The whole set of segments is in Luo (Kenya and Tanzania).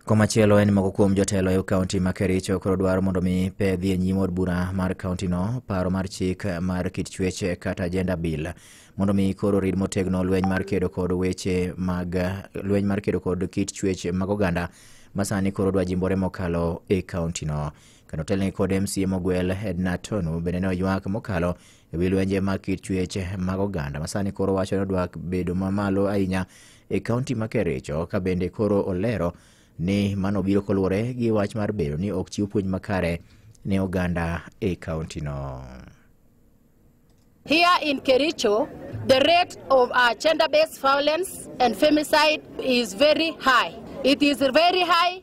Komachielo en moko kuom jotelo e kaunti ma Kericho koro dwaro mondo mi pe dhi e nyim od bura mar kaunti no paro mar chik mar kit chuech kata gender bill mondo mi koro rid motegno lweny mar kedo kod weche mag lweny mar kedo kod kit chuech mag oganda masani koro dwa jimbore mokalo e kaunti no kanotelne kod MCA mogwel Edna Tonu bende ne oywak mokalo e wi lwenje mag kit chuech mag oganda masani koro wacho ni odwa bedo mamalo ahinya e kaunti ma Kericho ka bende koro olero ni mano biro koluwore gi wach mar bedo ni ok chiw puonj makare ne oganda e kauntino. Here in Kericho, the rate of uh, gender-based violence and femicide is very high. It is very high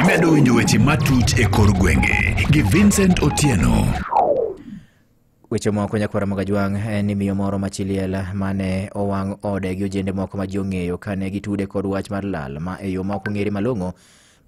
Imedo winjo weche matut e kor gwenge gi Vincent Otieno. Weche moko nyakwara Magajwang' en ni miyo moro machiliel mane owang' ode gi ojende moko ma ji ong'eyo kane gitude kod wach mar lal ma e yo ma ok ong'ere malong'o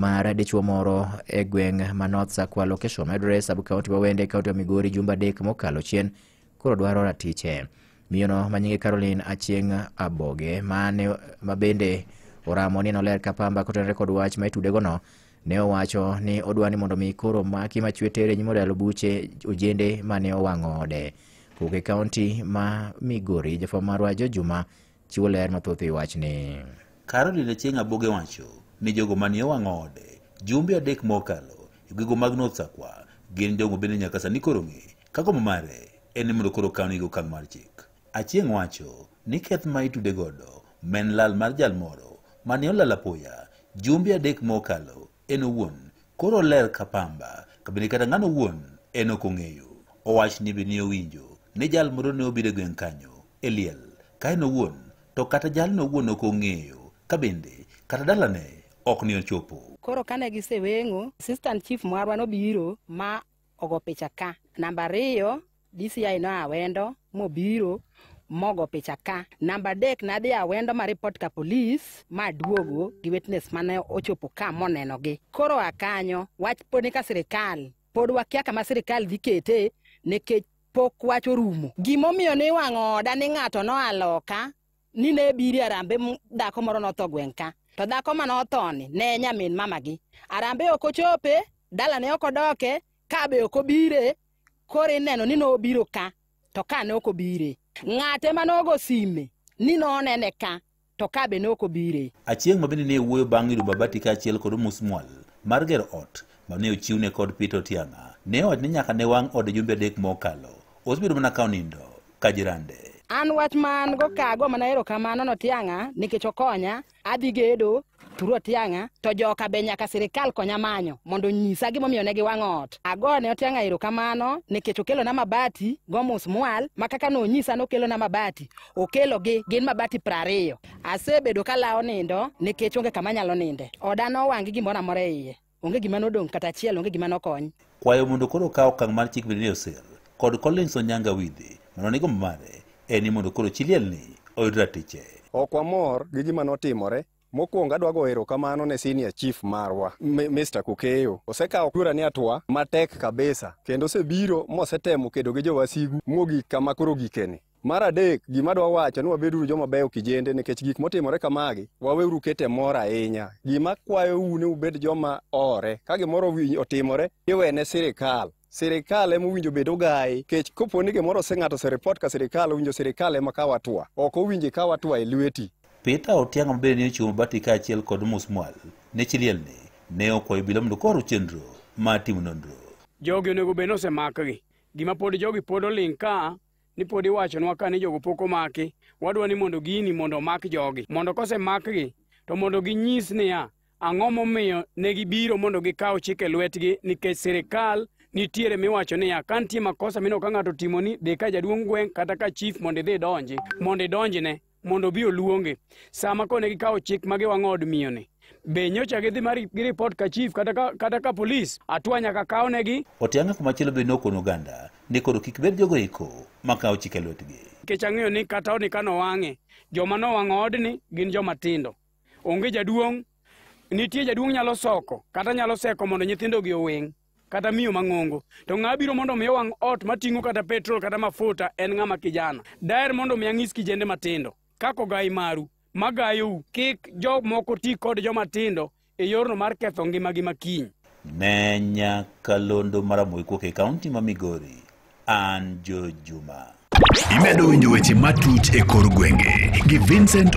mar dichuo moro e gweng' ma North Sakwa Location Madre sub county ma Wende county ma Migori jumbe adek mokalo chien koro dwaro ratiche. Miyono ma nyinge Caroline Achieng' Aboge ma ne ma bende oramo ni noler ka pamba kotenore kod wach ma itudegono ne owacho ni odwa ni mondo mi koro maki machwe tere nyim odalo buche ojende ma ne owang'o ode. Kowuok e kaunti ma Migori, jafwambo marwa Jo Juma chiwo ler mathoth e wachni. Caroline Achieng' Aboge wacho ni jogo mane owang'o ode jumbe adek mokalo e gwego mag North Sakwa gin jogo bende nyaka sani koro ng'e Ka gombo mare en ni mondo koro kawni gi okang' mar chik. Achieng' wacho ni keth ma itude godo ma en lal mar jal moro mane olal apoya jumbe adek mokalo en owuon koro oler ka pamba ka bende kata ng'ano owuon en ok ong'eyo. Owach ni bende owinjo ni jal moro ne obiro e gweng' kanyo e liel ka en owuon to kata jalno owuon ok ong'eyo ka bende kata dalane ok ne ochopo. Koro kane giseweng'o, assistant chief marwa nobiro ma ogo picha ka. Namba ariyo, DCI no awendo mobiro mogo picha ka. Namba adek nadhi awendo ma report ka polis ma aduogo gi witness mane ochopo ka monenogi. Koro a kanyo wach pod ni ka sirikal pod wakia kama sirikal dhi kete nikech pok wach orumo. Gimomiyo niwang'o oda ni ng'ato noa loka ni ne biri arambe m dhako moro notho gweng' ka to dhako ma nothoni ne nyamin mama gi arambe ok ochope dalane ok odoke ka be ok obire koro ineno ni nobiro ka to ka ne ok obire ng'ate ma nogo sime ni nonene ka to ka be ne ok obire Achieng' ma bende ne wuoyo bang' yudo Babati kaachiel kod Omusmwal mar gero ot, ma ne ochiwne kod Peter Otiang'a ne owacho ni nyaka ne wang' ode jumbe adek mokalo osebedo mana ka onindo ka jirande. An wach ma an go ka ago mana erokamano ne Otiang'a nikech okonya, adhi gedo through Otiang'a to joka be nyaka sirikal konya manyo mondo onyisa gimomiyo ne giwang'o ot. Agone Otiang'a erokamano nikech okelona mabati go musmwal ma kaka nonyisa nokelona mabati, okelogi gin mabati prariyo. Asebedo kalawo nindo nikech onge kama anyalo ninde, oda nowang' gi gimoro amora e iye. Onge gima nodong' kata achiel, onge gima nokony. Kwayo mondo koro okaw okang' mar chik Virginia Osir kod Collins Onyango Awidhi mondo ne gombo mare en ni mondo koro chi lielni oyud ratiche. Ok wamor gi gima notimore. Mokwongo adwa goyo erokamano ne senior chief marwa M- Mr. Kukeyo. Osekawo kura ni atwa matek kabisa kendo osebiro mosetemo kedo gi jowasigu mogik kama koro gikeni. Mar adek, gima dwa wacho ni wabeduru joma beyo kijende nikech gik motimore kamagi, waweuru kete mor ahinya. Gima kwayou ni ubed joma ore, ka gimoro wi- otimore, iwene sirikal. Sirikal ema owinjo bed ogayi, kech kopo ni gimoro ose ng'ato oseripot ka sirikal, owinjo sirikal ema kaw atua. Ok owinji kaw atua e lweti. Peter Otiang' ma bende ne ochung' mabati kaachiel kod Musmwal ne chilielni ne okwayo obila mondo koro chenro mar timo nonro. Jogi onego bed ni osemakgi. Gima pod jogi pod oling' ka ni pod iwachonwa ka ni jogo pok omaki wadwa ni mondo gini mondo omak jogi mondo kosemakgi to mondo ginyis niya ang'o momiyo ne gibiro mondo gikaw chike lwetgi nikech sirikal nitiere miwacho niya ka nitie makosa mineno ka ng'ato otimoni dhi ka jaduong' gweng' kata ka chief mondo idhi idonji mondo idonjne mondo obi oluonge sama kone gikawo chik ma giwang'o od miyoni be nyocha gidhi mar gi ripot ka chief kata ka, kata ka polis atwa nyaka kawnegi Otianga kumachielo be nokono oganda ni koro kik bed jogo eko makawo chike lwetgi. nikech ang'eyo ni kata odni ka nowang'e joma nowang'o odni gin joma tindo onge jaduong' nitie jaduong' nyalo soko kata nyalo seko mondo nyithindogi oweng' kata miyo mang'ongo to ng'a biro mondo omiya wang' ot mating'o kata petrol kata mafuta en ng'ama kijana daer mondo omiya ng'is kijende matindo kako gai maru magayou kik jomoko ti kod joma tindo e yorno mar ketho ngimagi makiny ne nyaka londo maramoy kuok e kaunti ma migori an jojuma imedo winjo weche matut e kor gwenge gi vincent